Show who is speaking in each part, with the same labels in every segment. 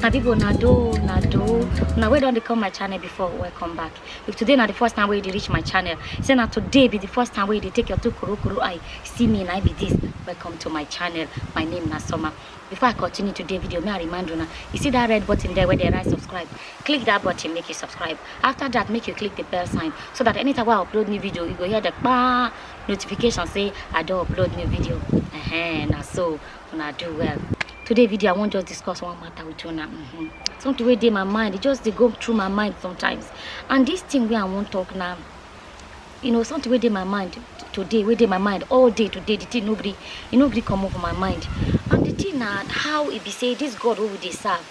Speaker 1: my people na do na do na wey don dey come my channel before welcome back if today na the first time wey you dey reach my channel say na today be the first time wey you dey take your two kuru kuru eye see me na I be this welcome to my channel my name na summer Before I continue today video, may I remind una, you see that red button there where they write subscribe? Click that button, make you subscribe. After that, make you click the bell sign so that anytime I upload new video, you go hear the bah notification say I don't upload new video. Uh -huh, now so, una do well. Today video, I won't just discuss one matter with una. Mm -hmm. Something wey dey my mind, it just dey go through my mind sometimes. And this thing wey I wan talk now, you know something wey dey my mind today wey dey my mind all day today the thing no gree e no gree comot for my mind and the thing na how e be say this god wey we dey serve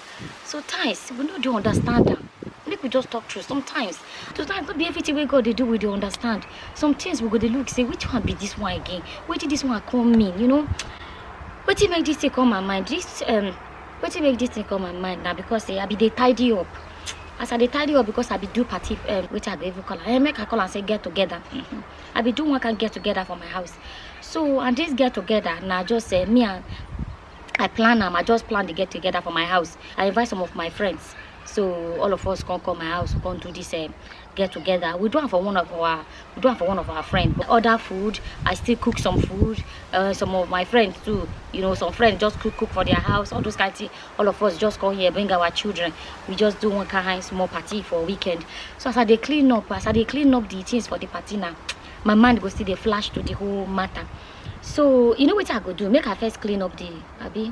Speaker 1: sometimes we no dey understand am make we just talk true sometimes sometimes no be everything wey god dey do we dey understand some things we go dey look say which one be this one again wetin this one come mean you know wetin make this thing come my mind this um, wetin make this thing come my mind na because say i be dey tidy up as i dey tidy up because i be do party um, wetin i go even call am eh, make i call am say get together mm-hmm. i be do one kind get together for my house so and this get together na just uh, me and i plan am i just plan the get together for my house i invite some of my friends so all of us come come my house come do this um, get together we do am for one of our we do am for one of our friend but order food i still cook some food uh, some of my friends too you know some friends just cook cook for their house all those kind of thing all of us just come here bring our children we just do one kind of small party for weekend so as i dey clean up as i dey clean up the things for the party now my mind go still dey flash to the whole matter so you know wetin i go do make i first clean up the abi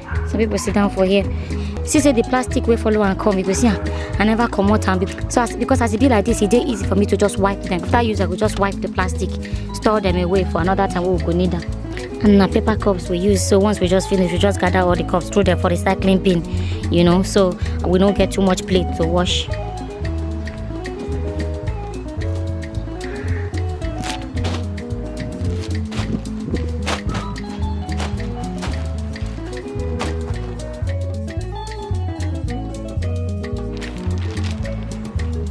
Speaker 1: some people sit down for here see say the plastic wey follow am come you go see am i never comot am so as because as e be like this e dey easy for me to just wipe them after use i go just wipe the plastic store them away for another time wey we go need am and na paper cups we use so once we just finish we just gather all the cups throw them for recycling bin you know so we no get too much plate to wash.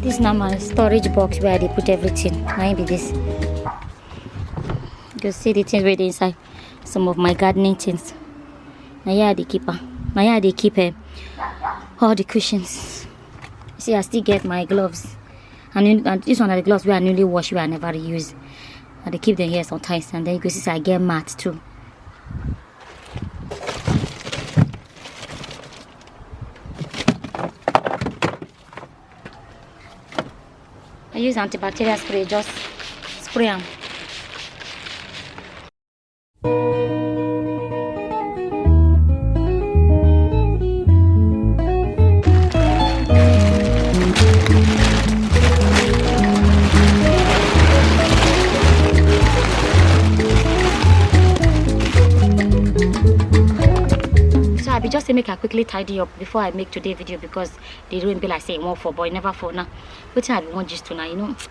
Speaker 1: This na my storage box where I dey put everything. Na im be this. You go see the things wey dey inside. Some of my gardening things. Na here I dey keep am. Na here I dey keep um, all the cushions. You see, I still get my gloves. And, and this one are the gloves wey I newly wash wey I never reuse. I dey keep them here sometimes and then you go see say I get mat too. I use antibacterial spray, just spray them. So I be just say make I quickly tidy up before I make today video because the rain be like say it won't fall, but it never fall now. Wetin I be wan gist una, you know,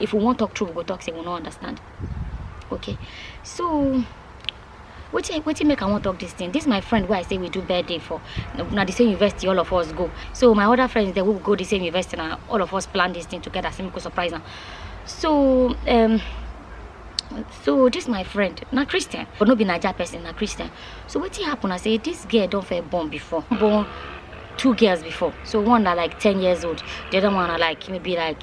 Speaker 1: if we wan talk true we go talk say we no understand okay so wetin wetin make i wan talk this thing this my friend wey i say we do birthday for na the same university all of us go so my other friends dem wey go the same university na all of us plan this thing together say make we surprise am so um, so this my friend na christian but no be naija person na christian so wetin happen na say this girl don fair born before born two girls before so one na like ten years old the other one na like maybe like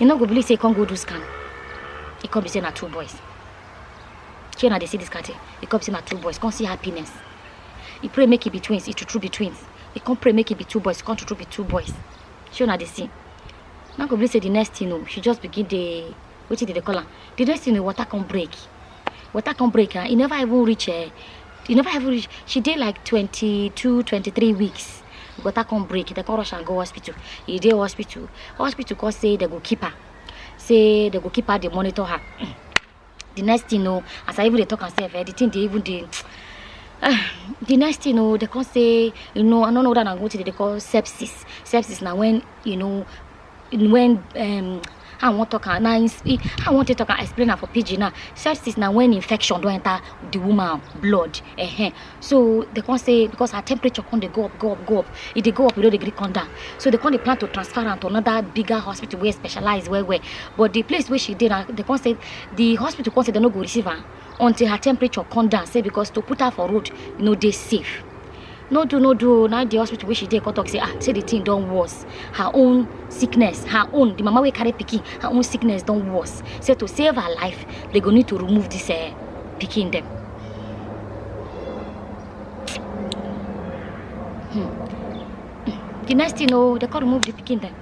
Speaker 1: you no go believe say you come go do scan e come be say na two boys shey una dey see this kind thing e come be say na two boys come see happiness e pray make e be twins e true true be twins e come pray make e be two boys e come true true be two boys shey una dey see na go believe say the next thing o she just begin dey wetin dey dey call am the next thing o water come break water come break ah e never even reach eh e never even reach she dey like 22 23 weeks water come break dem come rush am go hospital e dey hospital hospital come say dem go keep her say dem go keep her dey monitor her the next thing o as i even dey talk am sef eh the thing dey even dey the next thing o dem come say you know i no know whether na wetin dem dey call sepsis sepsis na when you know when um, I won't talk am. Now I want to talk and explain am for pidgin now. Sepsis now when infection don't enter the woman blood. Uh -huh. So they can't say because her temperature can't dey go up, go up, go up. If they go up, you know they gree come down. So they can't dey plan to transfer her to another bigger hospital where specialized where where. But the place where she did, they can't say the hospital can't say they no go receive her. until her temperature come down say because to put her for road no dey safe no do no do now the hospital wey she dey come talk say ah say the thing don worse her own sickness her own the mama wey carry pikin her own sickness don worse say to save her life they go need to remove this uh, pikin dem. Hmm. The next thing oh they come remove the pikin dem.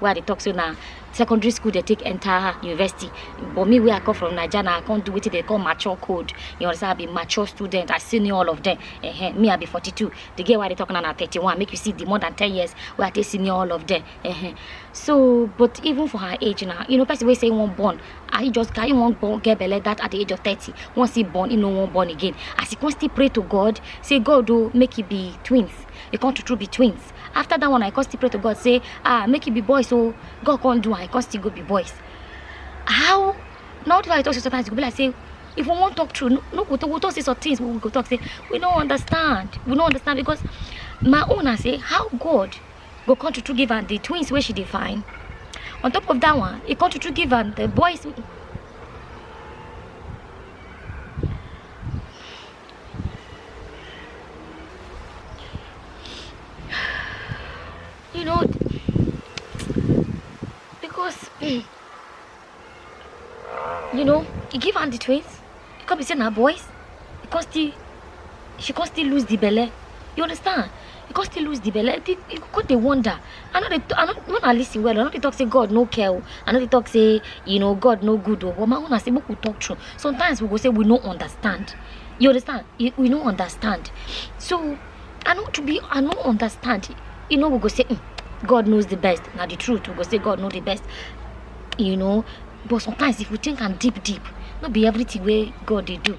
Speaker 1: wey i dey talk so na secondary school dey take enter university but me wey i come from naija na i come do wetin dey call mature code you understand i be mature student i senior all of them uh-huh. me i be forty-two the girl wey i dey talk now na thirty-one make you see the more than ten years wey i take senior all of them uh-huh. so but even for her age na you know person wey say he wan born and he just carry one born get belle that at the age of thirty once he born he no wan born again as he come still pray to god say god o make he be twins he come true true be twins after that one i come still pray to god say ah make e be boys o oh. god come do am i come still go be boys how na all the while i talk say sometimes e go be like say if we wan talk true no no go talk we talk say some things we go talk say we no understand we no understand because my own na say how god go come to true give am the twins wey she dey find on top of that one e come to true give am the boys you know because you know e give am the twins e come be say na boys e come still she come still lose the belle you understand you go still lose the belle you go come dey wonder i no dey i no when i lis ten well i no dey talk say god no care o i no dey talk say you know god no good o but my own na say make we talk true sometimes we go say we no understand you understand You- we no understand so i no to be i no understand you know we go say mm, god knows the best na the truth we go say god know the best you know but sometimes if we think am deep deep no be everything wey god dey do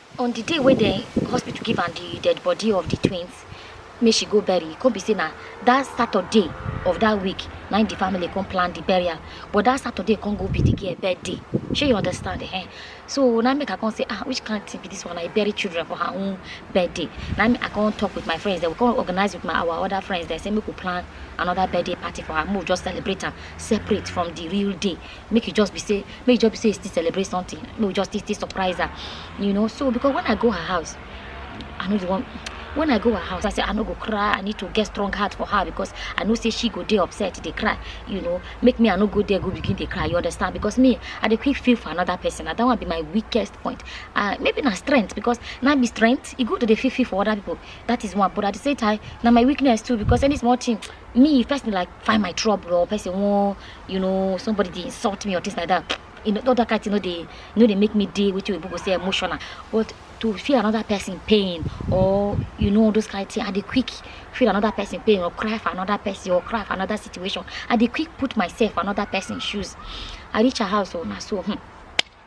Speaker 1: on the day wey dem hospital give am the dead body of the twins make she go bury e come be say na that saturday of that week na im the family come plan the burial but that saturday come go be the girl birthday shey you understand eh so na make i come say ah which kind thing be this one i bury children for her own birthday na make i come talk with my friends dem we come organize with my our other friends dem say make we plan another birthday party for her make we just celebrate am separate from the real day make e just be say make e just be say e still celebrate something make we just still still surprise her you know so because when i go her house i no dey wan when i go her house i say i no go cry i need to get strong heart for her because i know say she go dey upset dey cry you know make me i no go there go begin dey cry you understand because me i dey quick feel for another person na that one be my weakest point uh, maybe na strength because na be strength e good to dey feel feel for other people that is one but at the same time na my weakness too because any small thing me if person like find my trouble or person wan you know somebody dey insult me or things like that you know all that kind thing no dey no dey make me dey wetin oyibo go say emotional but to feel another person pain or you know those kind thing i dey quick feel another person pain or cry for another person or cry for another situation i dey quick put myself for another person shoes i reach her house oh na so hmm,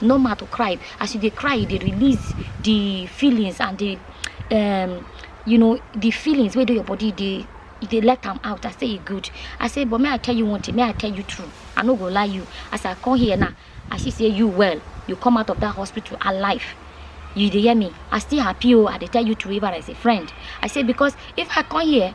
Speaker 1: normal to cry as you dey cry you dey release the feelings and the um you know the feelings wey dey your body dey you dey let am out i say e good i say but may i tell you one thing may i tell you true i no go lie you as i come here now i see say you well you come out of that hospital alive you dey hear me i still happy oh i dey tell you true even as a friend i say because if i come here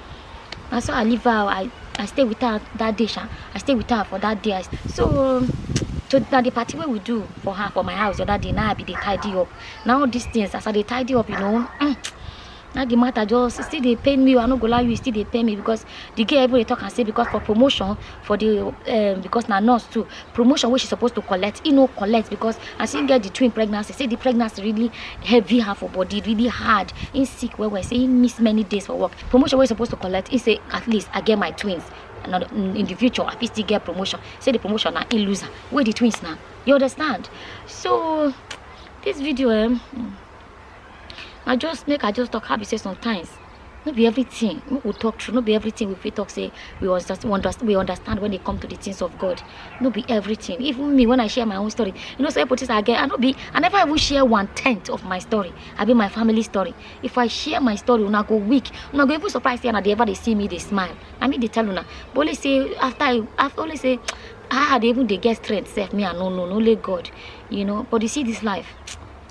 Speaker 1: na so I leave her. I I stay with her that day, sha. I stay with her for that day. I, so to now the party what we do for her for my house the other day. Now I be the tidy up. Now these things as I they tidy up, you know. Mm, now the matter just still they pay me. I no go lie you, still they pay me because the girl everybody talk and say because for promotion for the um, because na nurse too promotion wey she suppose to collect e no collect because as im get the twin pregnancy say the pregnancy really heavy her for body really hard im sick well well say im miss many days for work promotion wey she suppose to collect im say at least i get my twins and na- in the future i fit still get promotion say the promotion na im lose am wey the twins na you understand so this video um, i just make i just talk how be say sometimes no be everything make we talk true no be everything we fit talk say we understand we understand, we understand when e come to the things of god no be everything even me when i share my own story you know say people say i get i no be i never even share one tenth of my story i be my family story if i share my story una go weak una go even surprise say una dey ever dey see me dey smile na me dey tell una but only say after i after only say ah i dey even dey get strength sef me i no know na only god you know but you see this life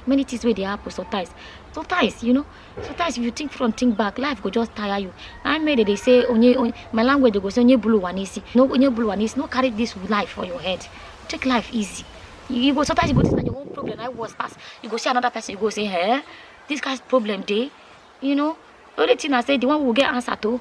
Speaker 1: many things wey dey happen sometimes sometimes you know sometimes if you think front think back life go just tire you na im make dem dey say onye onye my language dey go say onye bulu wa n'isi no onye bulu wa n'isi no carry this life for your head take life easy you, you go sometimes you go think na your own problem na worse pass you go see another person you go say eh this kind problem dey you know the only thing na say the one wey go get answer to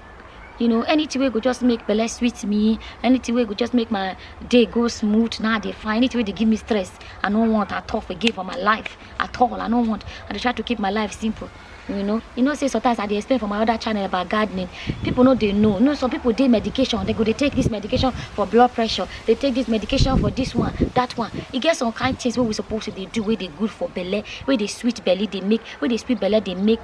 Speaker 1: you know anything wey go just make belle sweet me anything wey go just make my day go smooth now i dey find anything wey dey give me stress i no want at all again for my life at all i no want i dey try to keep my life simple you know you know say sometimes i dey explain for my other channel about gardening people no dey know you know some people dey medication they go dey take this medication for blood pressure dey take this medication for this one that one e get some kind things wey we suppose to dey do wey dey good for belle wey dey sweet belle dey make wey dey sweet belle dey make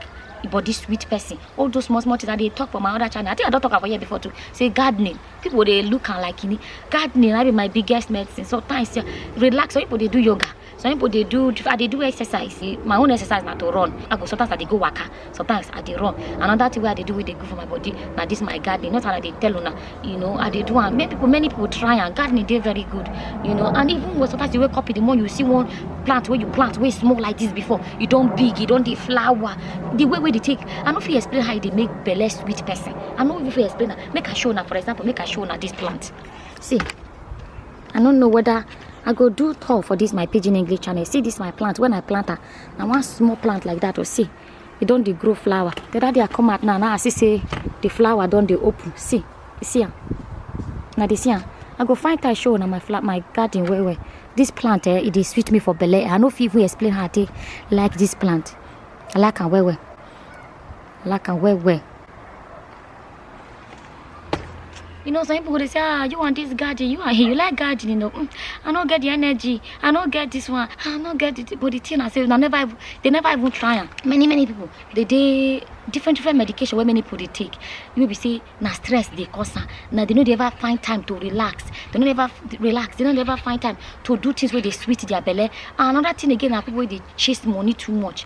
Speaker 1: body sweet person all those small small things i dey talk for my other channel i think i don talk am for here before too say gardening people dey look am like kini gardening na be my biggest medicine sometimes yeah, relax some people dey do yoga some people dey do i dey do exercise see my own exercise na to run i go sometimes i dey go waka sometimes i dey run another thing wey i dey do wey dey good for my body na this my gardening not that i dey tell una you know i dey do am many people many people try am gardening dey very good you know and even when sometimes you wake up in the morning you see one plant wey you plant wey small like this before e don big e don dey flower the way wey dey take i no fit explain how e dey make belle sweet person i no even fit explain am make i show una for example make i show una this plant see i no know whether i go do tour for this my pidgin english channel see this my plant when i plant am na one small plant like that o see e don dey grow flower the other day i come out now now i see say the flower don dey open see you see am na dey see am i go find time show una my fla my garden well well this plant eh e dey sweet me for belle i no fit even explain how i take like this plant i like am well well i like am well well you know some people they say ah you want this garden you are you like garden you know mm, i don't get the energy i don't get this one i don't get it but the thing i say na never even they never even try am many many people they dey different different medication wey many people dey take you be say na stress dey cause am na they no dey ever find time to relax they no dey ever f- relax they no dey ever find time to do things wey dey sweet their belle and another thing again na people wey dey chase money too much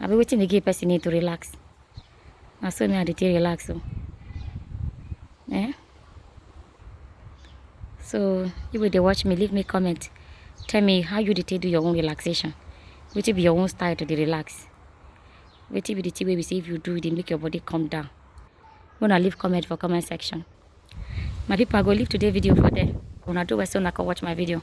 Speaker 1: i be waiting to give person need to relax na so me i dey take relax o eh so you wey dey watch me leave me comment tell me how you dey take do your own relaxation wetin be your own style to dey relax wetin be the thing wey be say if you do e dey make your body calm down una leave comment for comment section my people i go leave today video for there una do well say una come watch my video